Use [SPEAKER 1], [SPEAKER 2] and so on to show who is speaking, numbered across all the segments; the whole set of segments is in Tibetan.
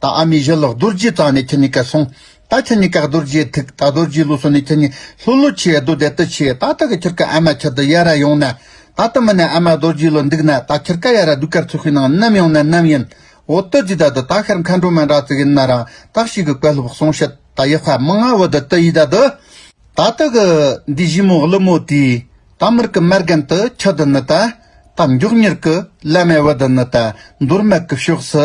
[SPEAKER 1] ད་ཨ་མའི་བཞེད་ལོག་རྡོ་རྗེའི་རྩ་ནས་ཁྱེར་ནས་བཀལ་སོང། ད་ཁྱེར་ནས་བཀག་རྡོ་རྗེའི་ཐུགས་ད་རྡོ་རྗེའི་ལུས་སོ་ནས་ཁྱེར་ནས་ལྷོད་ལྷོད་བྱས་རྡོ་དེ་ལྟ་བྱས་ད་ད་གི་ཁྱེར་ཀ་ཨ་མ་ཁྱེར་དུ་ཡ་ར་ཡོང་ན། ད་ལྟ་མི་ནས་ཨ་མ་རྡོ་རྗེའི་ལོ་འདུག་ན་ད་ཁྱེར་ཀ་ཡ་ར་སྡུག་ཀར་ཚུགས་ཤིག་ནང་ནམ་ཡོང་ན་ནམ་ཡིན། འོ་ཏི་ཙི་ད་དུ་ད་ཤར་མཁའ་འགྲོ་མ་འདྲ་ཙིག་ཡིན་ན་རང་རྟགས་ཤིག་གི་བཀལ་ལྷུབ་སོང་ཤི་ད་ཡེ་ཧྥ་མི་ང་བོ་དུ་ཏི་ཡིས་ད་དུ། ད་ད་གི་འདི་བཞི་མོ་གླུ་མོ་དེའི་ད་མིར་གི་མ་རྒན་དུ་ཁྱི་དུ་ནི་ད། ད་མགྱོགས་མྱུར་གི་བླ་མའི་བུ་དུ་ནི་ད་འདོར་མ་གི་ཕྱོགས་སུ་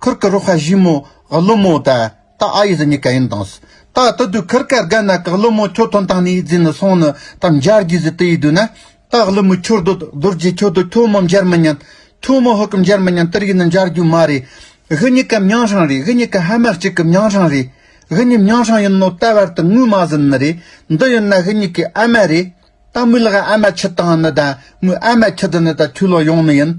[SPEAKER 1] ཁུར་ཀ་རོ་ཧ་བཞི་མོ་ཧ་ལོ་མོ་ད་ད་ཨ་ཡི་ཟི་ཉི་ཀ་ཡིན་དངས་ད་ད་དུ་ཁུར་ཀ་རྒ་ན་ཀ་ཧ་ལོ་མོ་ཁྱོ་ཐོན་དང་ནི་རྫི་ནི་སོང་ནི་ད་མཇར་གྱི་ཟི་དི་ཡི་དུས་ན་ད་ཧ་ལོ་མོ་ཁྱོ་དོད་དོད་རྗེས་ཁྱོ་དོད་ཁྱོ་མོ་མཇར་མི་ཉན་ཁྱོ་མོ་ཧུ་ཀ་མཇར་མི་ཉན་དི་རིག་ནི་མཇར་རྒྱུ་མ་རེད་ཧི་ཉི་ཀ་མྱང་ཧྲང་རེད་ཧི་ཉི་ཀ་ཧ་མ་གཅིག་གི་མྱང་ཧྲང་རེད་ཧི་ཉི་མྱང་ཧྲང་ཡིན་ནོ་ད་བར་དུ་ངུས་མ་ཟིན་ནི་རེད་འདི་ཡིན་ན་ཧི་ཉི་ཀའི་ཨ་མ་རེད་ད་མོའི་ལག་ཨ་མ་ཁྱི་དང་ནི་ད་མོའི་ཨ་མ་ཁྱི་དི་ནི་ད་ཁྱོའི་ལོ་ཡོང་ནི་ཡིན་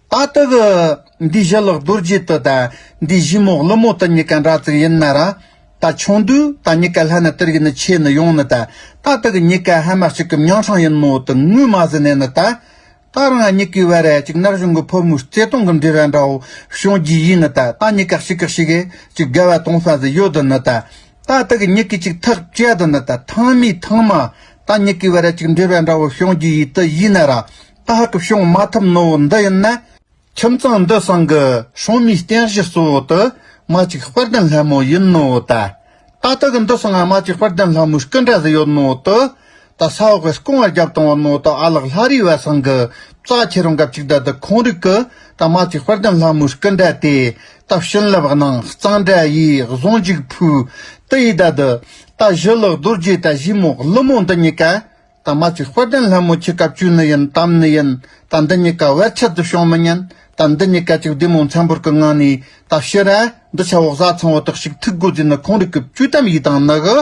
[SPEAKER 1] ད་ལྟ་གི་འདི་བཞི་ལག་རྡོ་རྗེ་དུ་ད་འདི་བཞི་མོག་ལི་མོ་དུ་གཉིས་ཀ་འདྲ་ཙིག་ཡིན་ན་ར། ད་ཆུང་དུས་ད་གཉིས་ཀ་ལྷ་ནི་དིར་གྱི་ནི་ཆེ་ནི་ཡོང་ནི་ད་ད་ལྟ་གི་གཉིས་ཀ་ཧ་མ་གཅིག་གི་མྱང་ཕྲང་ཡིན་མོ་དུ་ངུས་མ་ཟི་ནས་ནི་ད། ད་རང་ང་གཉིས་ཀའི་བར་ར་གཅིག་ནག་གཞུང་གི་ཕོ་མོའི་བརྩེ་དུང་གི་འབྲེལ་བ་འདྲ་བོ་བྱུང་རྒྱུ་ཡིན་ནི་ད་ད་གཉིས་ཀ་གཅིག་གི་ཞིག་གཅིག་དགའ་བ་གཏོང་ས་ཟི་ཡོད་དུ་ནི་ད། ད་ལྟ་གི་གཉིས་ཀའི་གཅིག་ཐག་བཅད་དུ་ནི་ད་ཐང་མིའི་ཐང་མ་ད་གཉིས་ཀའི་བར་ར་གཅིག་འབྲེལ་བ་འདྲ་བོ་བྱུང་རྒྱུ་ཡིད་དུ་ཡིན་ན་ར། ད་ཧ་ཀི་བྱུང་མ་ཐུབ་ནོ་འདི་ཡིན་ན། ཁྱིམ་ཚང་འདི་སྲང་གི་ཧྲོང་མིའི་རྟེན་གཞི་གཙོ་བོ་དུ་མ་གཅིག་དཔལ་ལྡན་ལྷ་མོ་ཡིན་ནོ་ད། ད་ལྟ་གི་འདི་སྲང་ཨ་མ་གཅིག་དཔལ་ལྡན་ལྷ་མོའི་སྐུ་འདྲ་ཟི་ཡོད་ནོ་དུ། ད་ས་འོག་གིས་སྐོང་བ་རྒྱབ་བཏང་བ་ནོ་ད་ཨ་ལགས་ལྷ་རིའི་བ་སྲང་གི་རྩ་ཆེ་རུང་གབ་ཅིག་ད་འདི་ཁོང་རིགས་གི་ད་ཨ་མ་གཅིག་དཔལ་ལྡན་ལྷ་མོའི་སྐུ་འདྲ་དེ། ད་བྱིན་རླབས་གནང་གཙང་སྦྲ་ཡིས་བཟང་ཅིག་ཕུལ། དེ་ཡིས་ད་འདི། ད་བཞི་ལག་རྡོ་རྗེས་ད་བཞི་མོ་ཀླུ་མོ་འདི་གཉིས་ཀ། ད་མ་ཚིག་དཔལ་ལྡན་ལྷ་མོ་ཁྱི་སྐབས་བཅུ་ནི་ཡིན་གཏམ་ནི་ཡིན་ད་འདི་གཉིས་ཀ་བེད་ཆད་དུ་ཤོང་མི་ཉན་ད་འདི་གཉིས་ཀ་ཅིག་བདུད་མོ་མཚན་བོར་གི་ངང་ནས་ད་ཤི་ར་འདི་ཆ་བོག་བཟའ་ཚང་བོ་དག་ཞིག་ཐུག་དགོས་རྫུས་ནི་ཁོང་རིགས་ཀྱི་བཅུ་གཏམ་ཡིག་དང་ནི་གི།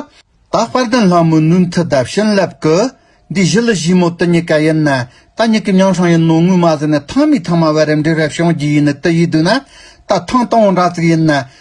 [SPEAKER 1] ད་དཔལ་ལྡན་ལྷ་མོའི་ནུས་མཐུ་ལྡབ་བྱིན་རླབས་ཀྱི། འདི་བཞི་ལི་བཞི་མོ་དི་གཉིས་ཀ་ཡིན་ན་ད་གཉིས་ཀྱི་མྱང་ཧྲང་ཡིན་ནོ་ངུས་མ་ཟིན་ནས་ཐང་མིའི་ཐང་མ་བེ་རེམ་འདྲེ་རེབ་བྱང་རྒྱུ་ཡིན་ནི་དི་ཡིས་བསྡུས་ན་ད་ཐང་སྟོང་བོ་འདྲ་ཚིག་ཡིན་ན་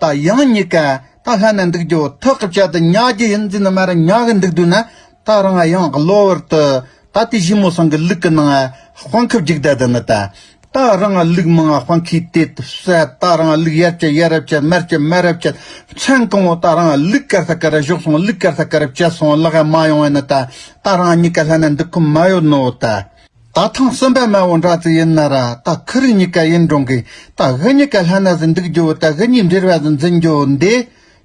[SPEAKER 1] ད་ཡང་གཉིས་ཀ་ད་ལྷ་ནས་འདུག་རྒྱུ་ཐག་གི་བཅད་དུ་ཉག་གི་ཡིན་ཟིན་ན་མ་རེད་ཉག་གི་འདུག་དུས་ན་ད་རང་ཡང་གློ་བུར་དུ་ད་དེ་བཞི་མོ་སང་གི་ལུག་གི་ནང་དཔང་ཁུབ་རྒྱུག་ད་དུ་ནི་ད་ད་རང་ལུག་མང་དཔང་ཁུས་དེ་བསད་ད་རང་ལུག་ཡར་བསྐྱལ་ཡར་རབ་བསྐྱལ་མར་བསྐྱལ་མར་རབ་བསྐྱལ་མཚན་གང་བོ་ད་རང་ལུག་གར་ས་གར་བཞོག་སོང་ལུག་གར་ས་གར་བསྐྱལ་སོང་ལག་ཡ་མ་ཡོང་བས་ནི་ད་ད་རང་གཉིས་ཀ་ལྷ་ནས་འདུག་གི་མ་ཡོད་ནོ་ད། ད་ཐང་གསོན་པའི་མེ་དབོན་དྲག་ཙི་ཡིན་ན་ར་ད་ཁི་རི་གཉིས་ཀ་ཡིན་འགྲོང་གི་ད་གྷི་གཉིས་ཀ་ལྷན་ན་ཟི་འདུག་རྒྱུ་བོ་ད་གྷི་གཉིས་འདྲིར་བས་ཟི་འཛིན་རྒྱུ་བོ་འདི་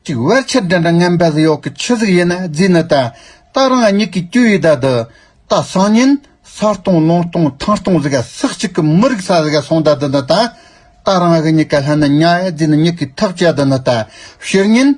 [SPEAKER 1] ཅིག་བེར་ཆད་འདྲེ་འདྲ་ངན་པས་ཟི་ཡོག་གི་ཆུ་ཟིག་ཡིན་ན་རྫི་ནི་ད་ད་རང་ཨ་མྱིག་གི་སྐྱུ་ཡི་ད་དུ་ད་སང་ཉིན་ས་སྟོང་ལུང་སྟོང་ཐང་སྟོང་ཟི་ག་སག་གཅིག་གི་མི་རིག་ས་ཟི་ག་སོང་ད་དུ་ནི་ད་ད་རང་གྷི་གཉིས་ཀ་ལྷན་ན་ཉ་ཨེ་རྫི་ནི་མྱིག་གི་ཐག་བཅད་དུ་ནི་ད་ཕྱིར་ཉིན།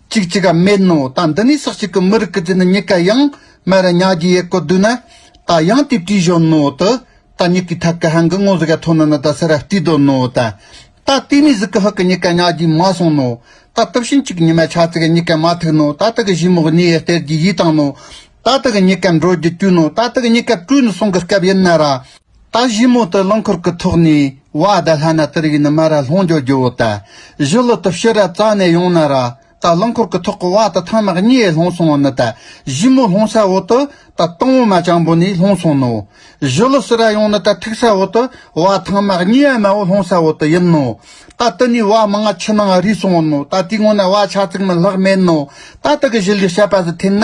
[SPEAKER 1] ཅིག་ཅིག་ག་མེད་ནོ་ད་འདི་ནས་ཟག་ཅིག་གི་མི་རིགས་ཀི་ཅི་ནི་མྱི་ག་ཡང་མ་ར་མྱ་གྱི་ཡེ་གོ་དུ་ན་ད་ཡང་དེ་བྲིས་བཞོན་ནོ་དུ་ད་མྱི་གི་ཐབ་གི་ཧན་གི་ངོ་ཟི་ག་ཐོ་ན་ན་ད་སི་ར་བཏི་དོ་ནོ་ད་ད་དེ་ནས་ཟི་གི་ཧི་གི་མྱི་ག་མྱ་གྱི་མ་སོང་ནོ་ད་དུབ་ཤིན་ཅིག་མྱི་མ་ཆ་ཙི་ག་མྱི་ག་མ་ཐུག་ནོ་ད་དི་གི་བཞི་མོ་གཉི་ཡེ་སྟེར་གྱི་ཡི་དང་ནོ་ད་དི་གི་མྱི་ག་འགྲོ་རྒྱུ་དཀྱུ་ནོ་ད་དི་གི་མྱི་ག་བཀྲུས་ནི་སོང་གི་སྐབས་ཡིན་ན་ར། རྟ་བཞི་མོ་དུ་རླངས་འཁོར་གྱི་ཐོག་ནས་བ་རྡ་ལྷ་ན་དིར་ཡིན་མ་ར་ལྷོང་འཇོག་རྒྱུ་བོ་ད་བཞི་ལོ་དུ་ཕྱི་ར་རྩ་ནས་ཡོང་ན་ར་རྟ་རླངས་འཁོར་གྱི་ཐོག་གི་བ་དུ་ཐང་མག་གཉིས་ལྷོང་སོང་བ་ནི་ད་བཞི་མོ་ལྷོང་ས་བོ་དུ་ད་སྟོང་བོ་མ་ཅང་བོ་ནས་ལྷོང་སོང་ནོ། བཞི་ལོ་སི་ར་ཡོང་ནི་ད་ཐིག་ས་བོ་དུ་བ་ཐང་མག་གཉིས་ཡ་མ་བོ་ལྷོང་ས་བོ་དུ་ཡིན་ནོ། ད་དི་ནས་བ་མི་ང་ཆི་ནང་རུས་སོང་བོ་ནོ་ད་དེའི་སྔོན་ན་བ་ཆ་ཙིག་མི་ལྷག་མེད་ནོ། ད་དི་གི་བཞི་ལི་ཤ་པ་ཟི་འཐེན་ན་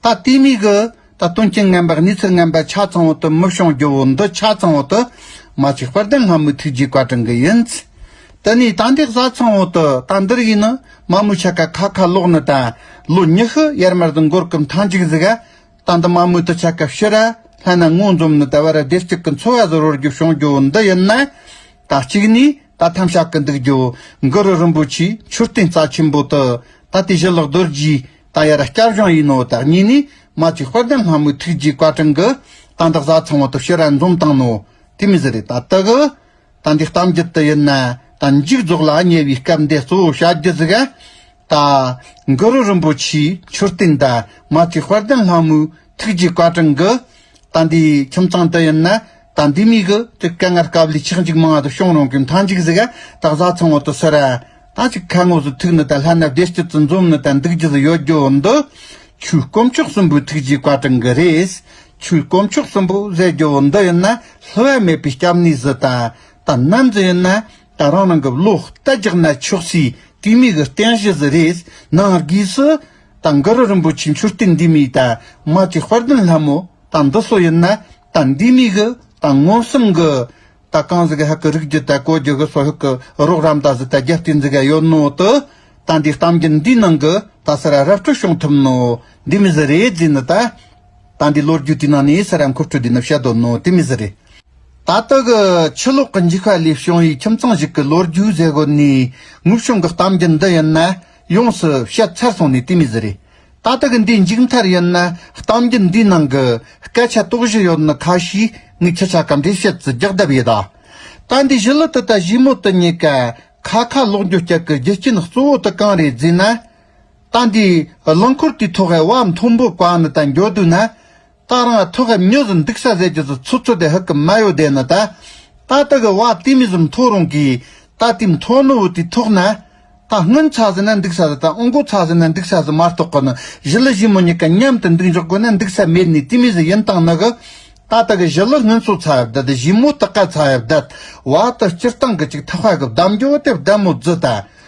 [SPEAKER 1] ད་ལྟའི་མིག་གིས་ད་དོན་རྐྱེན་ངན་པའི་གནས་ཚུལ་ངན་པ་ཆ་ཚང་བོ་དུ་མི་བྱུང་རྒྱུ་བོ་འདི་ཆ་ཚང་བོ་དུ་མ་བྱས་པར་དེ་སྔ་མོའི་ཐུགས་རྗེའི་བཀའ་དྲིན་གྱི་ཡིན། དེ་ནས་ད་འདི་གཟའ་ཚང་བོ་དུ་ད་འདིར་ཡིན་ནི་མ་མོའི་ཆ་ག་ཁ་ཁ་ལོག་ནི་ད་ལོ་ཉི་ཤུ་ཡར་མར་དུ་འགོར་གི་མཐའ་འཇིག་ཟིག་ཨ། ད་འདི་མ་མོའི་དུ་ཆ་ག་ཕྱིར་ཨ་ལྷན་ན་ངོ་འཛོམས་ནི་ད་བར་བདེ་སྐྱིད་ཀྱི་འཚོ་བ་ཟོར་བོར་རྒྱུ་བྱུང་རྒྱུ་བོ་འདི་ཡིན་ན། ད་གཅིག་ནས་ད་ཐམ་ཤ་གི་འདུག་རྒྱུ་བོ་འགུ་རུ་རིན་པོ་ཆེའི་མཆོད་རྟེན་རྩ་ཆེན་པོ་དུ་ད་དེ་བཞི་ལག་རྡོ་རྗེའི་ཏང་ཡར་བསྐྱར་བཞེངས་ཡིན་ནོ་བདག་ཉིད་ནི། མ་གཅིག་དཔལ་ལྡན་ལྷ་མོའི་ཐུགས་རྗེའི་བཀའ་དྲིན་གྱི། ཏང་དང་བཟའ་ཚང་བ་དོ་ཤལ་རན་འཛོམས་བཏང་ནོ། དེ་མི་ཟེར་རེད་ད་ལྟ་གི། ད་འདི་གཏམ་རྒྱུད་དུ་ཡིན་ན། ད་མཇུག་རྫོགས་ལ་ཉེ་བའི་སྐབས་འདི་གཙོ་བོ་བྱ་རྒྱུ་ཟིག། ད། གུ་རུ་རིན་པོ་ཆེའི་མཆོད་རྟེན་འདི། མ་གཅིག་དཔལ་ལྡན་ལྷ་མོའི་ཐུགས་རྗེའི་བཀའ་དྲིན་གྱི། ད་འདི་ཁྱིམ་ཚང་དུ་ཡིན་ན། ད་འདི་མི་གི་ཀྱི་སྐད་ངར་སྐབས་ལས་ཆག་འཇིག་མང་ང་དུ་ཤོང་རུང་གི་མཐའ་འཇིག་ཟིག་ཨ་ད་བཟའ་ཚང་བོ་དུ་སོར་ཨ་ད་ཅིག་ཁ་ངོ་སུ་ཐུག་ནི་ད་ལྷ་ན་བདེ་སྐྱིད་དུ་འཛོམ་ནི་ད་འདུག་རྒྱུ་ཟིག་ཡོད་རྒྱུ་འདི་ཆུའི་དཀོན་མཆོག་གསུམ་པོའི་ཐུགས་རྗེའི་བཀའ་དྲིན་གི་རེད། ཆུའི་དཀོན་མཆོག་གསུམ་པོ་ཟེར་རྒྱུ་བོ་འདི་ཡིན་ན་ལྷུ་བ་མེད་པའི་སྐྱབས་གནས་ཟི་ད་ད་ནམ་ཟི་ཡིན་ན་ད་རང་རང་གི་བློ་ལྟ་རྒྱག་ན་ཆོག་སའི་དུས་མི་གི་རྟེན་གཞི་ཟི་རེད་ནང་སྒོས་སུ་ད་འགུ་རུ་རིན་པོ་ཆེ་མཆོད་རྟེན་འདི་མི་ད་མ་ཀྱི་དཔལ་ལྡན་ལྷ་མོ། དང་འདི་སོགས་ཡོད་ན་ད་འདི་དམིགས་གི་ད་མངོན་སུམ་གི། ད་གང་ཟི་གི་ཧ་གི་རིགས་ཀྱི་ད་གོ་རྒྱུ་གི་སོགས་ཧུད་གི་རོགས་རམ་ད་ཟི་ད་རྒྱ་སྟེ་འཛི་ག་ཡོད་ནོ་ཏི། ད་འདི་གཏམ་རྒྱུད་འདིའི་ནང་གི་ད་སི་ར་རབ་སྤྲོད་བྱུང་ཐུབ་ནོ་འདི་མི་ཟི་རེད་རྫི་ནི་ད། ད་འདི་ལོ་རྒྱུས་དེའི་ནང་ནས་སི་ར་མཁོ་སྤྲོད་འདི་ནི་བྱེད་དོ་ནོ་དེ་མི་ཟི་རེད། ད་ལྟ་གི་ཕྱི་ལོགས་གི་འཇིགས་པ་ལས་བྱུང་བའི་ཁྱིམ་ཚང་ཞིག་གི་ལོ་རྒྱུས་ཟེར་དགོས་ནས་ངུ་བྱུང་གི་གཏམ་རྒྱུད་འདི་ཡིན་ན། ཡོངས་སུ་ཤེས་ཚར་སོང་ནས་དེ་མི་ཟེར། རེད་ད་ད་གི་འདིའི་མཇུག་མཐར་ཡིན་ན་གཏམ་རྒྱུད་འདིའི་ནང་གི་སྐད་ཆ་དོགས་གཞི་ཡོད་ནི་ཁ་ཤས་ངའི་ཁྱི་ཆ་གམ་འདྲེ་ཤེད་ཀྱི་རྒྱག་རྡབ་ཡིན། ད་འདི་བཞི་ལོ་དུ་ད་བཞི་མོ་དུ་ཉེ་ག་ཁ་ཁ་ལོག་རྒྱུ་སྐྱག་གི་རྒྱུ་རྐྱེན་གཙོ་བོ་དུ་གང་རེད་ཟེར་ན། ད་འདིའི་རླངས་འཁོར་དེའི་ཐོག་གི་བ་མཐོན་པོ་བཀག་ནས་ད་འགྱོ་དུས་ན། ཏག་རང་ཐུགས་ཀ་མྱོས་སུ་འདུག་ས་ཟད་ཀྱི་སུ་ཚུར་ཚུར་དེ་ཧུ་ཀི་མ་ཡོ་དེ་ནི་ད། ད་ཏི་གི་བ་ཏི་མི་ཟུམ་ཐོ་རུང་གིས་ད་ཏི་མཐོ་ནུ་བུ་ཏི་ཐུག་ན། ད་སྔོན་ཚ་ཟི་ན་འདུག་ས་ཟི་ད་ཨོ་མགོ་ཚ་ཟི་ན་འདུག་ས་ཟི་མ་རྟོག་གི་ནི་བཞི་ལི་བཞི་མོ་གཉིས་ཀ་མཉམ་དུ་འདུག་འཇོག་དགོས་ན་འདུག་ས་མེད་ནི་ཏི་མི་ཟི་ཡིན་སྟངས་ནི་གི། ད་ཏི་གི་བཞི་ལི་སྔོན་སོ་ཚ་ཡབ་དད་བཞི་མོ་ཏི་ཀ་ཚ་ཡབ་དད་བ་ཏི་སྤྱིར་བཏང་གི་ཅིག་ཐག་བྷ་གི་བདམ་རྒྱོ་དེ་བདམ་མོ་རྫི་ད།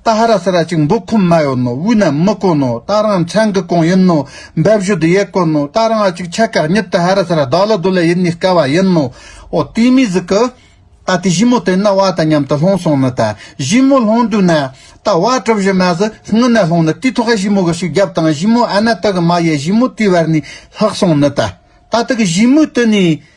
[SPEAKER 1] རྟ་ཧ་ར་ས་ར་ཅིག་འབུ་ཁུམ་མ་ཡོད་ནོ་དབུས་ན་མི་དཀོན་ནོ་རྟ་རང་མཚན་གི་གོང་ཡིན་ནོ་འབབ་གཞུ་དུ་ཡས་དཀོན་ནོ་རྟ་རང་ཨ་ཅིག་ཆ་གག་ཉིད་དུ་ཧ་ར་ས་ར་བདག་ལ་དུ་ལ་ཡིད་ནི་དཀའ་བ་ཡིན་ནོ་ཨོ་ཏི་མི་ཟི་ཀི། རྟ་དེ་བཞི་མོ་དེ་ན་བ་དང་མཉམ་དུ་ལྷུང་སོང་ནི་རྟ་བཞི་མོ་ལྷུང་དུས་ན་རྟ་བ་གྲུ་བཞི་མ་ཟི་སྔུན་ན་ལྷུང་ནི་དུས་ཐོག་ཨ་བཞི་མོ་གི་ཤུགས་རྒྱབ་དང་བཞི་མོ་ཨ་ན་རྟ་གི་མ་ཡས་བཞི་མོ་དུས་བར་ནི་ལྷག་སོང་ནི་རྟ་རྟ་དག་བཞི་མོའི་དུས་ནི།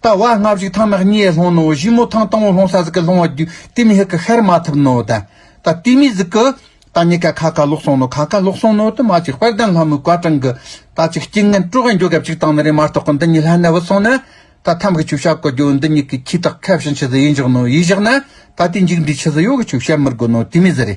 [SPEAKER 1] ལྟ་བ་སྔ་གཞུག་ཐང་ནག་ཉེ་ལྷོང་ནོ་བཞི་མོ་ཐང་སྟོང་ལྷོང་ས་ཟིག་གི་ལྷོང་བ་རྒྱུ་དེ་མི་ཧི་ཀི་ཤར་མ་ཐུབ་ནོ་ད་ད་དུས་མི་ཟིག་གི་ད་ཉི་ཀ་ཁ་ཁ་ལོག་སོང་ནོ་ཁ་ཁ་ལོག་སོང་ནོ་དུ་མ་ཅིག་དཔལ་ལྡན་ལྷ་མོའི་བཀའ་དྲིན་གི་ད་ཅིག་སྐྱིད་ངན་སྤྲོ་བའི་འཇོ་ག་ཅིག་དང་ནི་རེ་མ་ཏོག་གི་འདི་ཉི་ལྷ་གནས་བུ་སོང་ནི་ད་ཐམ་གི་ཆུ་བྱ་གོ་རྒྱུ་འདི་ཉི་ཀི་ཁྱི་དག་ཁ་བྱིན་ཆུ་ཟི་ཡིན་བཞག་ནོ་ཡིས་བཞག་ན་ད་དུས་འཇིག་འདྲིས་ཆུ་ཟི་ཡོ་གི་ཆུ་བྱ་མི་དགོ་ནོ་དུས་མི་ཟི་རེ།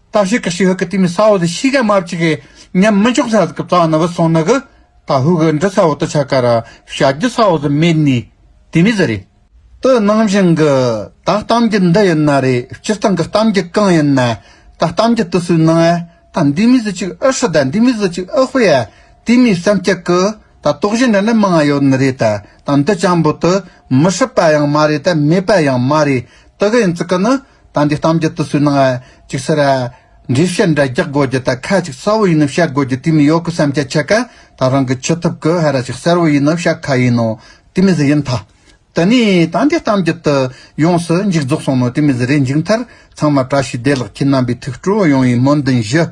[SPEAKER 1] ད་ཤི་ཀི་ཤི་ཧི་ཀི་ཏི་མི་ས་བོ་ཟི་ཤི་ཀ་མ་བཅི་ཀི་ཉམ་མི་འཇོག་ས་ཟི་ཀི་བཙག་ན་བུ་སོང་ན་གི་ད་ཧུ་ཀི་འདྲི་ས་བོ་ཏི་ཆ་ཀ་ར་བྱ་རྒྱུ་ས་བོ་ཟི་མེད་ནི་དེ་མི་ཟི་རེད། ཏི་ནང་བཞིན་གི་ད་གཏམ་རྒྱུ་འདི་ཡིན་ན་རེད་སྤྱིར་བཏང་གི་གཏམ་རྒྱུ་གང་ཡིན་ན་ད་གཏམ་རྒྱུ་ཏི་སུའི་ནང་ཨ་ད་འདི་མི་ཟི་ཅིག་ཨི་ཧྲི་ད་འདི་མི་ཟི་ཅིག་ཨི་དཔེ་ཨ་དེ་མི་བསམ་ཀྱི་གི་ད་དོག་གཞི་འདྲ་ནི་མང་ཡོད་ནི་རེད་ད་ད་འདི་ཅང་བུ་ཏི་མི་ཧྲི་པ་ཡང་མ་རེད་ད་མེད་པ་ཡང་མ་རེད་ཏི་གི་ཡིན་ཙི་ཀི་ནི། ད་འདི་གཏམ་རྒྱུད་དུ་སུས་གནང་ཨེ་ཅིག་ཟེར་ཨེ། འདྲིས་བཤད་འདྲ་རྒྱག་དགོས་རྒྱུ་ད་ཁ་ཅིག་གསལ་བོ་ཡིན་ནོ་བཤད་དགོས་རྒྱུ་དེ་མི་ཡོད་གི་བསམ་ཁྱད་ཆེ་ག་ད་རང་གི་ཆུ་ཐུབ་གི་ཧེ་ར་ཞིག་གསལ་བོ་ཡིན་ནོ་བཤད་ཁ་ཡིན་ནོ་དེ་མི་ཟི་ཡིན་ཐ། དེ་ནས་ད་འདི་གཏམ་རྒྱུད་དུ་ཡོངས་སུ་འཇིག་རྫོགས་སོང་ནོ་དེ་མི་ཟི་རེ་འཇིག་མཐར་ཚང་མ་བཀྲ་ཤིས་བདེ་ལགས་ཁྱེད་རྣམ་པའི་ཐུགས་སྤྲོ་ཡོང་བའི་སྨོན་འདུན་ཞུ།